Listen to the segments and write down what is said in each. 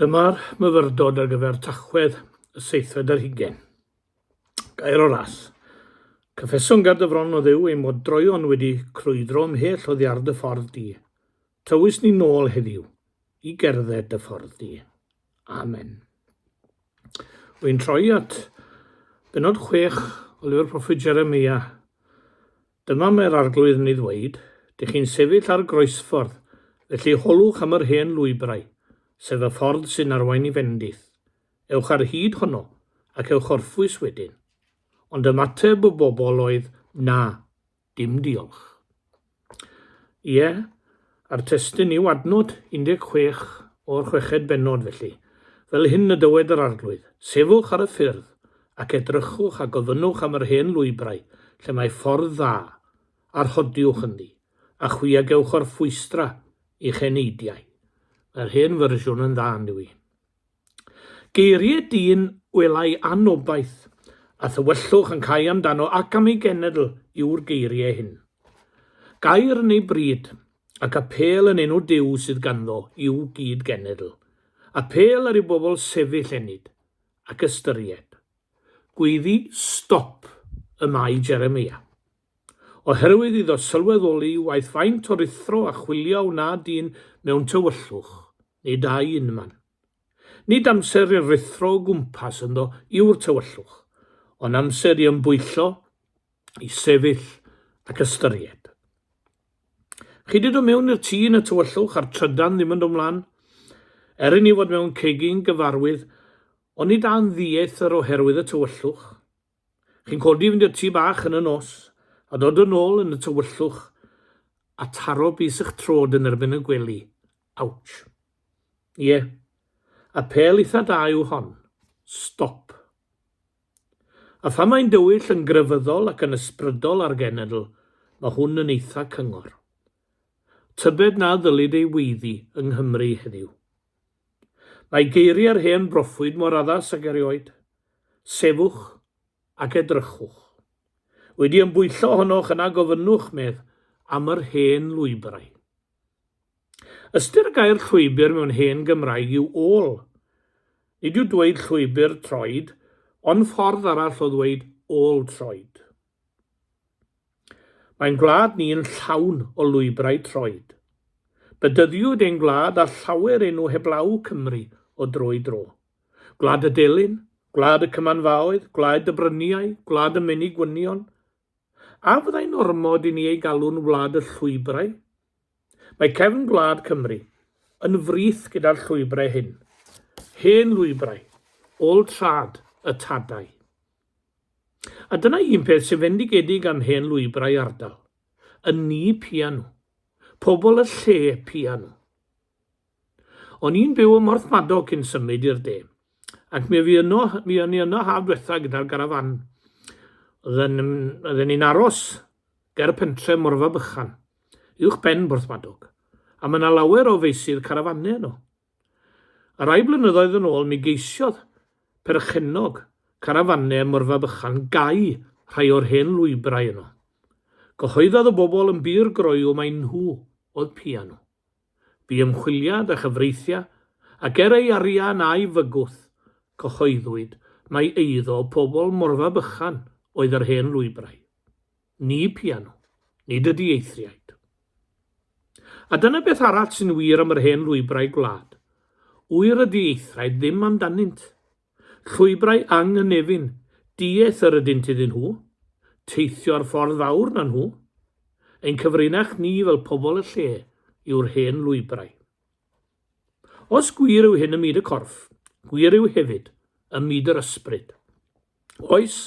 Dyma'r myfyrdod ar gyfer Tachwedd y seithfed ar hugain. Gair o ras. Cyffeson ger dy fron, o Dduw, ein mod droeon wedi crwydro ymhell oddiar dy ffordd di. Tywys ni nôl heddiw i gerdded dy ffordd di. Amen. Wy'n troi at benod chwech o lyfr proffwyd Jeremia. Dyna mae'r Arglwydd yn ei ddweud, Dych chi'n sefyll ar groesffordd, felly holwch am yr hen lwybrau, sef y ffordd sy'n arwain i fendith. Ewch ar hyd honno, ac ewch orffwys wedyn. Ond ymateb y bobl oedd, Na, dim diolch. Ie, A'r testun yw adnod 16 o'r chweched bennod, felly, fel hyn y dywed yr Arglwydd, Sefwch ar y ffyrdd, ac edrychwch a gofynnwch am yr hen lwybrau lle mae ffordd dda, a rhodiwch ynddi, a chwi a gewch orffwystra i'ch eneidiau. Mae'r hen fersiwn yn dda, yn dyw hi. Geiriau dyn welai anobaith, a thywyllwch yn cau amdano ac am ei genedl yw'r geiriau hyn. Gair yn ei bryd, ac apêl yn enw Duw sydd ganddo i'w gyd-genedl. Apêl ar ei bobl sefyll ennyd, ac ystyried. Gweiddi stop y mae Jeremia. Oherwydd iddo sylweddoli waeth faint o ruthro a chwilio a wna dyn mewn tywyllwch, nid â'i unman. Nid amser i'r ruthro o gwmpas ynddo yw'r tywyllwch, ond amser i ymbwyllo, i sefyll ac ystyried. Chi 'di dod mewn i'r tŷ yn y tywyllwch a'r trydan ddim yn dod 'mlan? Er i ni fod mewn cegin gyfarwydd, oni da'n ddieithr oherwydd y tywyllwch? Chi'n codi i fynd i'r tŷ bach yn y nos, a dod yn ôl yn y tywyllwch a taro bys ych trod yn erbyn y gwely. Ouch. Ie. Apêl eitha da yw hon. Stop. A phan mae'n dywyll yn grefyddol ac yn ysbrydol a'r genedl, mae hwn yn eitha cyngor. Tybed na ddylid ei weiddi yng Nghymru heddiw. Mae geiriau'r hen broffwyd mor addas ag erioed. Sefwch ac edrychwch. Wedi ymbwyllo ohonoch yna gofynnwch, medd, am yr hen lwybrau. Ystyr y gair llwybr mewn hen Gymraeg yw ôl. Nid yw dweud llwybr troed ond ffordd arall o ddweud ôl troed. Mae'n gwlad ni yn llawn o lwybrau troed. Bedyddiwyd ein gwlad â llawer enw heblaw Cymru o dro i dro. Gwlad y delyn, gwlad y cymanfaoedd, gwlad y bryniau, gwlad y menig gwynion. A fyddai'n ormod i ni ei galw'n wlad y llwybrau? Mae cefn gwlad Cymru yn frith gyda'r llwybrau hyn. Hen lwybrau, ôl trad, y tadau. A dyna un peth sy'n fendigedig am hen lwybrau ardal, y ni pia nhw. Pobl y lle pia nhw. O'n i'n byw ym Mhorthmadog cyn symud i'r de, ac mi fi yno, mi o'n i yno haf dwetha gyda'r garafan. Oedden, oedden ni'n aros ger y pentre Morfa Bychan, uwch ben Porthmadog, a mae yna lawer o feisydd carafanau yno. A rai blynyddoedd yn ôl mi geisiodd perchennog carafanne ym Morfa Bychan gau rhai o'r hen lwybrau yno. Cyhoeddodd y bobl yn bur groyw mai nhw oedd pianu. Bu ymchwiliad a chyfreithiau ac er ei arian a'i fygwth, cyhoeddwyd mai eiddo pobl Morfa Bychan oedd yr hen lwybrau. ni piano, nid ydy eithriaid. A dyna beth arall sy'n wir am yr hen lwybrau gwlad. Wyr ydy eithriaid ddim amdanynt. Llwybrau anghynefin, dieth yr ydynt iddyn nhw. Teithio'r ffordd fawr na nhw. Ein cyfrinach ni fel pobl y lle yw'r hen lwybrau. Os gwir yw hyn ym myd y corff, gwir yw hefyd ym myd yr ysbryd. Oes,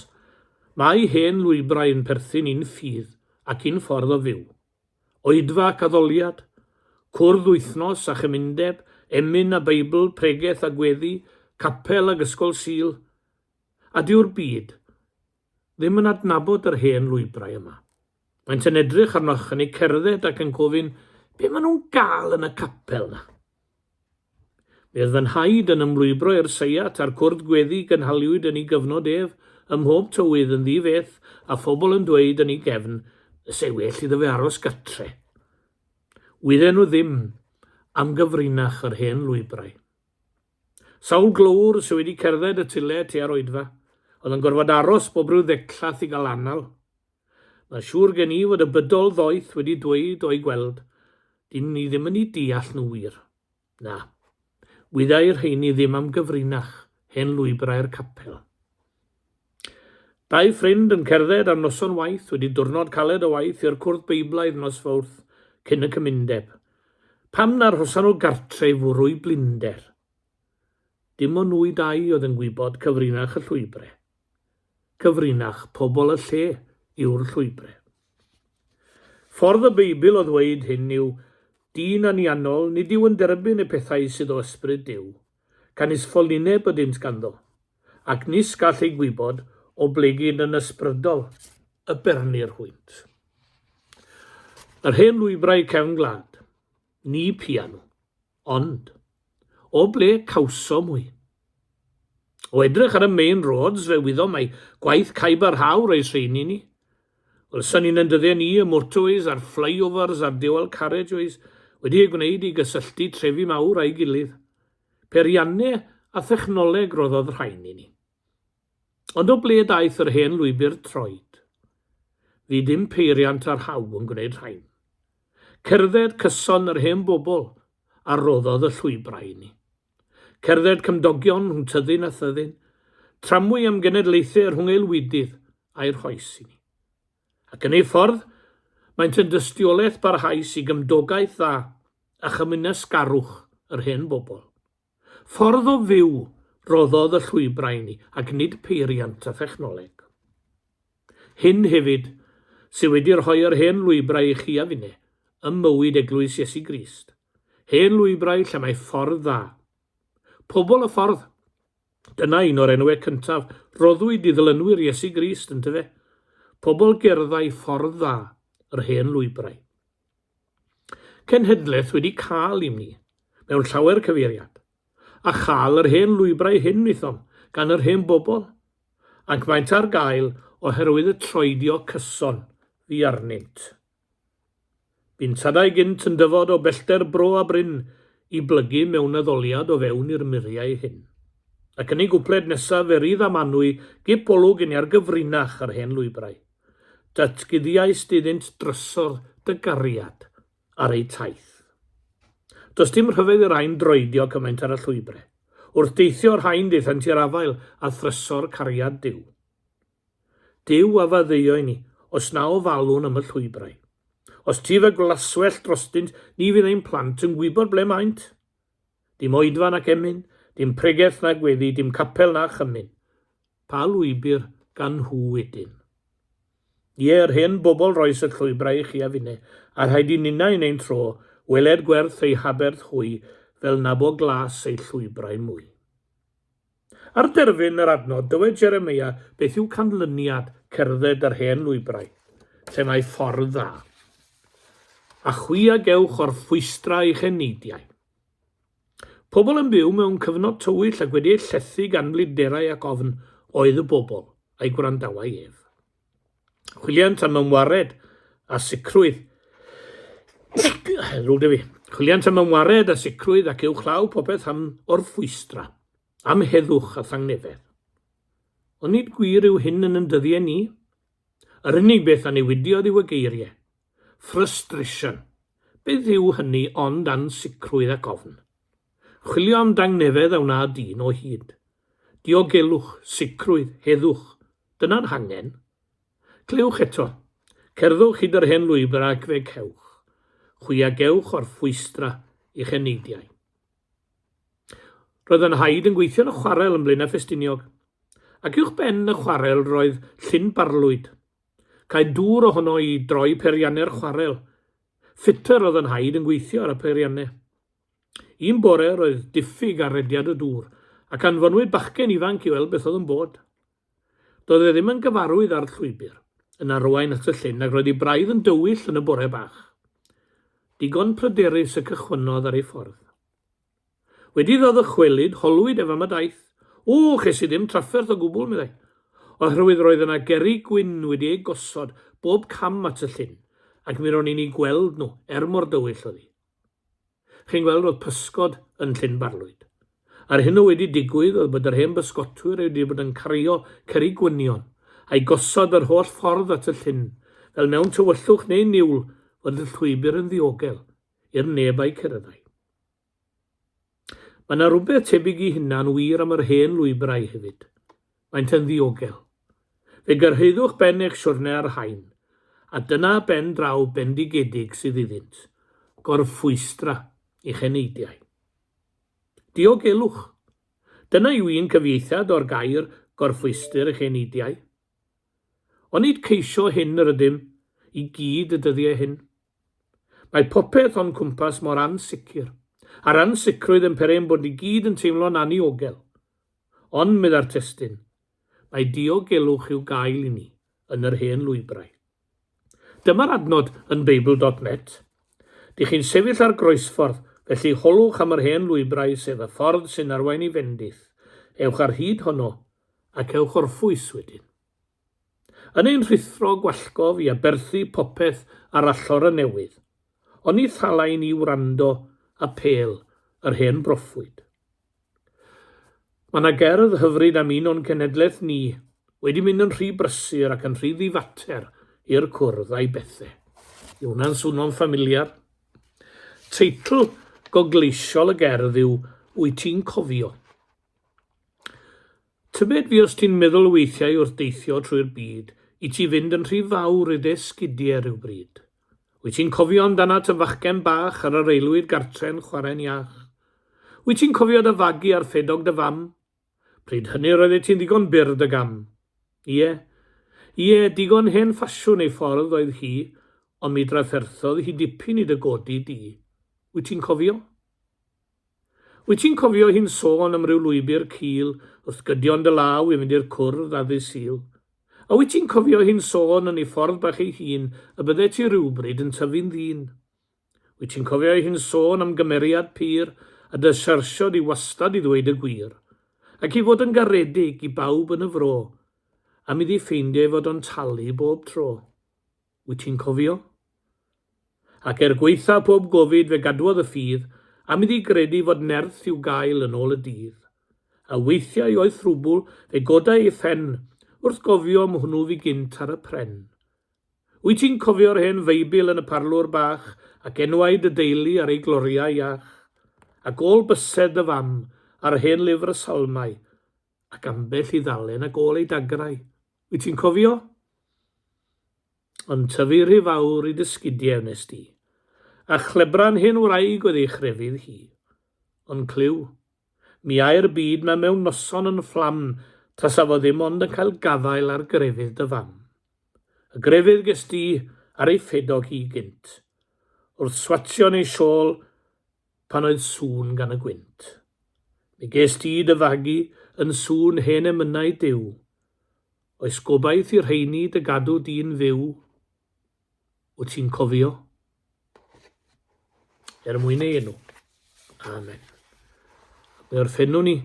mae hen lwybrau yn perthyn i'n ffydd ac i'n ffordd o fyw. Oedfa ac addoliad, cwrdd wythnos a chymundeb, emyn a Beibl, pregeth a gweddi, capel ag ysgol Sul. A dyw'r byd ddim yn adnabod yr hen lwybrau yma. Maent yn edrych arnoch yn eu cerdded ac yn gofyn be maen nhw'n gael yn y capel na. Mi oedd fy nhaid yn ymlwybro i'r seiat a'r cwrdd gweddi gynhaliwyd yn ei gyfnod ef, ym mhob tywydd yn ddi-feth a phobl yn dweud yn ei gefn, Fyse well iddo fe aros gatre. Wydden nhw ddim am gyfrinach yr hen lwybrau. Sawl glöwr sy wedi cerdded y tyle tua'r oedfa, oedd yn gorfod aros bob rhyw ddecllath i gael anal? Mae'n siŵr gen i fod y bydol ddoeth wedi dweud o'i gweld, dyn ni ddim yn 'u deall nhw wir. Na. Wyddai'r rheiny ddim am gyfrinach, hen lwybrau'r capel. Dau ffrind yn cerdded ar noson waith wedi diwrnod caled o waith i'r cwrdd Beiblaidd nos Fawrth cyn y cymundeb. Pam na arhosan nhw gartre i fwrw i blinder? Dim ond nhw i dau oedd yn gwybod cyfrinach y llwybre. Cyfrinach pobl y lle yw'r llwybre. Ffordd y Beibl o ddweud hyn yw, Dyn anianol nid yw yn derbyn y pethau sydd o Ysbryd Duw. gan is ffolineb ydynt ganddo, ac nis gall ei gwybod oblegid yn ysbrydol y bernir hwynt. Yr hen lwybrau cefn gwlad, ni piano, ond, o ble cawsom hwy? O edrych ar y main roads fe wyddom mai gwaith caib a rhaw roes rheini ni, Wel, sa'n ni'n yndydden ni, y motorways a'r flyovers a'r dual carriageways wedi eu gwneud i gysylltu trefi mawr â'i gilydd. Peirianne a thechnoleg roddodd rhain i ni. Ond o ble daeth yr hen lwybr troed? Fu dim peiriant ar haul yn gwneud rhain. Cerdded cyson yr hen bobl a roddodd y llwybrau i ni. Cerdded cymdogion rhwng tyddyn a thyddyn, tramwy am genedlaethau rhwng aelwydydd a'i rhoes i ni. Ac yn ei ffordd, maent yn dystiolaeth barhaus i gymdogaeth dda a chymwynasgarwch yr hen bobl. Ffordd o fyw roddodd y llwybrau i ni, ac nid peiriant a thechnoleg. Hyn hefyd sydd wedi rhoi yr hen lwybrau i chi a finne ym mywyd Eglwys Iesu Grist. Hen lwybrau lle mae ffordd dda. Pobl y ffordd. Dyna un o'r enwau cyntaf roddwyd i ddilynwyr Iesu Grist, yn tyfe? Pobl gerddau ffordd dda, yr hen lwybrau. Cenhedlaeth wedi cael i'm ni, mewn llawer cyfeiriad. A chael yr hen lwybrau hyn wnaethom, gan yr hen bobl. Ac maent ar gael oherwydd y troedio cyson fu arnynt. Bu'n tadau gynt yn dyfod o bellter Bro a Bryn i blygu mewn addoliad o fewn i'r muriau hyn. Ac yn ei gwpled nesaf fe rydd a manwy gip olwg yn iargyfrinach ar hen lwybrau. Datguddiaist iddynt drysor dy gariad ar eu taith. Does dim rhyfedd i'r rhain droedio cymaint ar y llwybre. Wrth deithio y rhain daethant i'r afael a thrysor cariad Duw. Duw a faddeuo i ni, os na ofalwn am y llwybrau. Os tyf y glaswellt drostynt, ni fydd ein plant yn gwybod ble maent. Dim oedfa nac emyn, dim pregeth na gweddi, dim capel na chymyn. Pa lwybr gan nhw wedyn? Ie, yr hen bobl roes y llwybrau i chi a finne, a rhaid i ninnau yn ein tro, weled gwerth ei haberth hwy, fel nabo glas ei llwybrau mwy. Ar derfyn yr adnod, dywed Jeremia beth yw canlyniad cerdded yr hen lwybrau, lle mae ffordd dda. A chwi a gewch o'r fwystra eich eneidiau. Pobl yn byw mewn cyfnod tywyll ac wedi eu llethu gan flinderau ac ofn oedd y bobl a'i gwrandawai ef. Chwiliant am ymwared a sicrwydd. Rwy'n dyfu. Chwiliant am ymwared a sicrwydd ac i'w chlaw popeth am orffwystra, am heddwch a thangnefedd. Ond nid gwir yw hyn yn yn dyddiau ni. Yr unig beth a newidiodd yw y geiriau. Frustration. Beth yw hynny ond ansicrwydd ac ofn. Chwilio am dangnefedd a wna dyn o hyd. Diogelwch, sicrwydd, heddwch, dyna'r hangen. Clywch eto. Cerddwch hyd yr hen lwybr ac fe cewch chwi a gewch orffwystra i'ch eneidiau. Roedd fy nhaid yn gweithio yn y chwarel yn Blaenau Ffestiniog, ac uwch ben y chwarel roedd llyn barlwyd. Caed dŵr ohono i droi peiriannau'r chwarel. Ffitr oedd fy nhaid yn gweithio ar y peiriannau. Un bore roedd diffyg ar rediad y dŵr ac anfonwyd bachgen ifanc i weld beth oedd yn bod. Doedd e ddim yn gyfarwydd â'r llwybr, yn arwain at y llyn ac roedd ei braidd yn dywyll yn y bore bach. Digon pryderus y cychwynnodd ar ei ffordd. Wedi iddo ddychwelyd, holwyd ef am y daith. O, ches i ddim trafferth o gwbl, meddai, oherwydd roedd yna gerrig gwyn wedi eu gosod bob cam at y llyn ac mi ro'n i'n eu gweld nhw, er mor dywyll oedd hi. Chi'n gweld, oedd pysgod yn Llyn Barlwyd. A'r hyn oedd wedi digwydd oedd bod yr hen bysgotwyr oedd wedi bod yn cario cerrig gwynion, a'u gosod yr holl ffordd at y llyn, fel mewn tywyllwch neu niwl fod y llwybr yn ddiogel i'r neb a'u ceryddai. Mae 'na rywbeth tebyg i hynna'n wir am yr hen lwybrau hefyd. Maent yn ddiogel. Fe gyrhaeddwch ben eich siwrne ar rhain, a dyna ben draw bendigedig sydd iddynt, gorffwystra i'ch heneidiau. Diogelwch! Dyna yw un cyfieithiad o'r gair gorffwystr i'ch heneidiau. Onid ceisio hyn yr ydym i gyd y dyddiau hyn? Mae popeth o'n cwmpas mor ansicr. A'r ansicrwydd yn peri ein bod ni gyd yn teimlo'n anniogel. Ond, medda'r testun, mae diogelwch i'w gael i ni yn yr hen lwybrau. Dyma'r adnod yn Beibl dot net. Dych chi'n sefyll ar groesffordd, felly holwch am yr hen lwybrau sef y ffordd sy'n arwain i fendith. Ewch ar hyd honno ac ewch orffwys wedyn. Yn ein rhuthro gwallgof i aberthu popeth ar allor y newydd, oni thalai ni wrando apêl yr hen broffwyd. Mae yna gerdd hyfryd am un o'n cenhedlaeth ni wedi mynd yn rhy brysur ac yn rhy ddifater i'r cwrdd a'i bethe. Yw hwnna'n swno'n ffamiliar? Teitl gogleisiol y gerdd yw Wyt ti'n cofio? Tybed fues ti'n meddwl weithiau wrth deithio trwy'r byd i ti fynd yn rhy fawr i dy esgidie rywbryd? Wyt ti'n cofio amdanat y fachgen bach ar yr aelwyd gartre'n chwarae'n iach? Wyt ti'n cofio dy fagu ar ffedog dy fam? Pryd hynny roeddet ti'n ddigon byr dy gam. Ie. Ie, digon hen ffasiwn ei ffordd oedd hi, ond mi drafferthodd hi dipyn i dy godi di. Wyt ti'n cofio? Wyt ti'n cofio hi'n sôn am ryw lwybr cul wrth gydio yn dy law i fynd i'r cwrdd ar ddydd Sul? A wyt ti'n cofio hi'n sôn yn ei ffordd bach ei hun y byddet ti rywbryd yn tyfu'n ddyn? Wyt ti'n cofio hi'n sôn am gymeriad pur a dy syrthio di wastad i ddweud y gwir, ac i fod yn garedig i bawb yn y fro, am iddi ffeindio ei fod o'n talu bob tro? wyt ti'n cofio? Ac er gwaetha pob gofid fe gadwodd y ffydd am iddi gredu fod nerth i'w gael yn ôl y dydd. A weithiau oedd thrwbwl fe godai ei phen wrth gofio am hwnnw fu gynt ar y pren. Wyt ti'n cofio'r hen Feibl yn y parlwr bach ac enwau dy deulu ar ei gloriau iach? Ac ôl bysedd dy fam a'r hen lyfr y Salmau Ac ambell i ddalen ag ôl ei dagrau, wyt ti'n cofio? Yn tyfu rhy fawr i dy sgidiau wnes di, a chlebran hen wraig oedd ei chrefydd hi. Ond clyw, mi ai'r byd ma mewn noson yn fflam tasa fo ddim ond yn cael gafael ar grefydd dy fam. Y grefydd ges di ar ei ffedog hi gynt, wrth swatio yn ei siôl Pan oedd sŵn gan y gwynt. Mi gest ti dy fagu yn sŵn hen emynau Duw. Oes gobaith i'r rheini dy gadw di'n fyw? Wyt ti'n cofio? Er mwyn ei enw. Amen. Mi orffennwn ni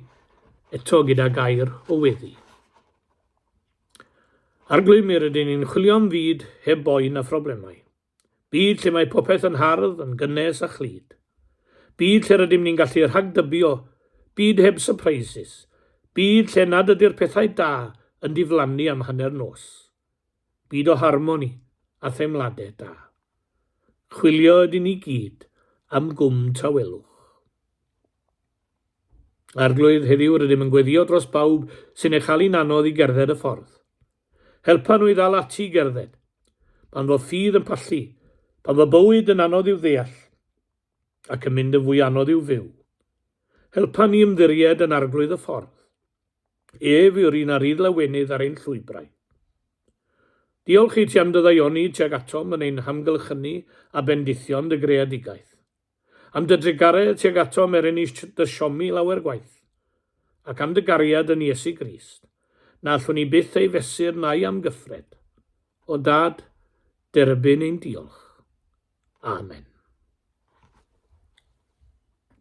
eto gyda gair o weddi. Arglwym, mi rydyn ni'n chwilio am fyd heb boen a phroblemau. Byd lle mae popeth yn hardd, yn gynnes a chlyd. Byd lle rydym ni'n gallu rhagdybio, byd heb sypreisis, byd lle nad ydy'r pethau da yn diflannu am hanner nos. Byd o harmoni a theimladau da. Chwilio ydyn ni gyd am gwm tawelwch. Arglwydd, heddiw rydym yn gweddio dros bawb sy'n ei chael hi'n anodd i gerdded y ffordd. Helpa nhw i ddal ati i gerdded. Pan fo ffydd yn pallu. Pan fo bywyd yn anodd i'w ddeall. Ac yn mynd yn fwy anodd i'w fyw. Helpa ni ymddiried yn Arglwydd y Ffordd. Ef yw'r un a rydd lawenydd ar ein llwybrau. Diolch i ti am dy ddaioni tuag atom yn ein hamgylchynu a bendithion dy greadigaeth. Am dy drugaredd tuag atom er ennill dy siomi lawer gwaith, ac am dy gariad yn Iesu Grist, na allwn ni byth ei fesur na'i amgyffred. O Dad, derbyn ein diolch. Amen.